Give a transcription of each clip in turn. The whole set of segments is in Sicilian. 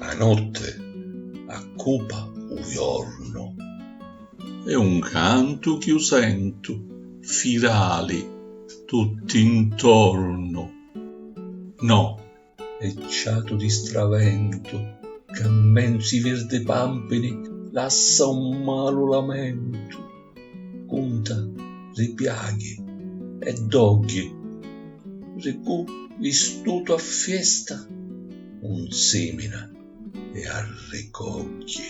A notte accupa u jornu. E un cantu chi u sentu firali tutti ntornu. No e ciatu di straventu ca mmenzu i virdi pampini lassa un malu lamentu cunta ri piaghi e dogghi ri cu vistutu a fiesta un simina e arricogghi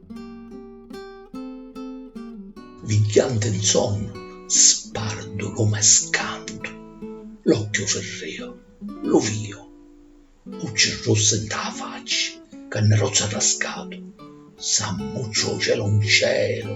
Vigghianti 'n sonnu, spardu lu me scantu, l'occhiu firriu, lu viju, u cirrussi nta a facci, ca nni rozzu arrascatu, s'ammuccia u celu 'n celu.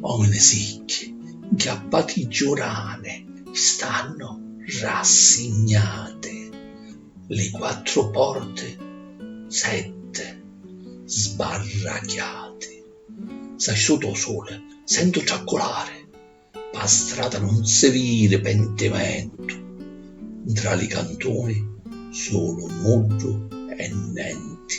Omini sicchi, 'ncappati giurane, stannu rassignate. Li quattru porti, sette, sbarrachiate. S'astutu 'o suli sentu tracculari, pâ strata nun si viri pentimentu. 'ntra li cantuni sulu nuddu e nenti.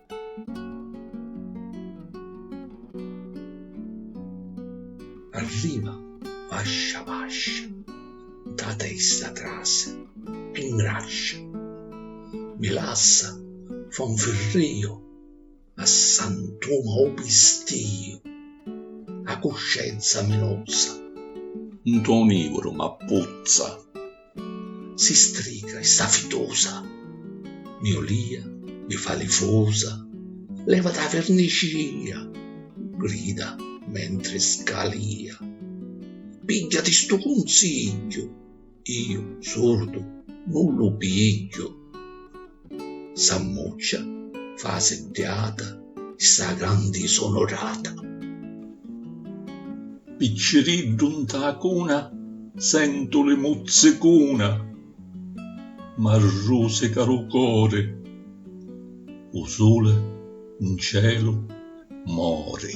Arriva vascia vascia, nta testa trase e ngrascia, mi lassa fa un firrìu a sant'uma u pistìu, a cuscenza mi lozza, nto nìvuru m'appuzza. Si strica e sta fitosa, mi olìa, mi fa li fosa, levati a virnicia, grida mentri scalìa. Pigghiati stu cunsigghiu, iu, surdu, nun lu pigghiu. S'ammuccia, fa seddiata, sta grandi sonorata. Picciriddu nta a cuna, sentu li muzzicuna, m'arrusica lu cori, u suli ncelu mori.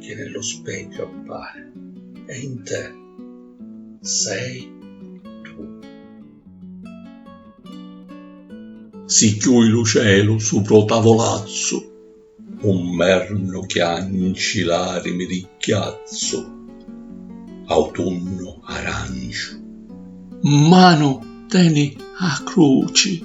chi ni lu specchiu appari e in te sei tu. Si chiui lu celu supra u tavulazzu u mmernu chianci larimi di chiazzu autunnu aranciu mmanu teni a cruci.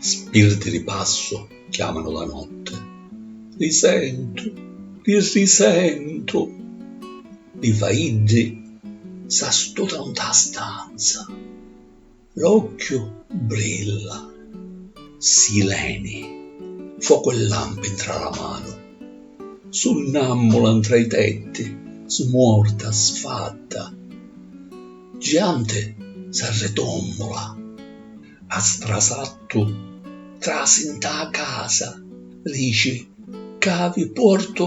Spirti di passu chiamanu la notti, Li sentu, li risentu! Li faiddi s'astutanu nta la stanza. L'occhiu brilla, si leni, focu e lampi 'ntra la manu, sunnàmmula 'ntra i tetti, smuorta, sfatta, gianti s'arritommula, a strasattu trasi 'nta a casa, rici, Ca vi portu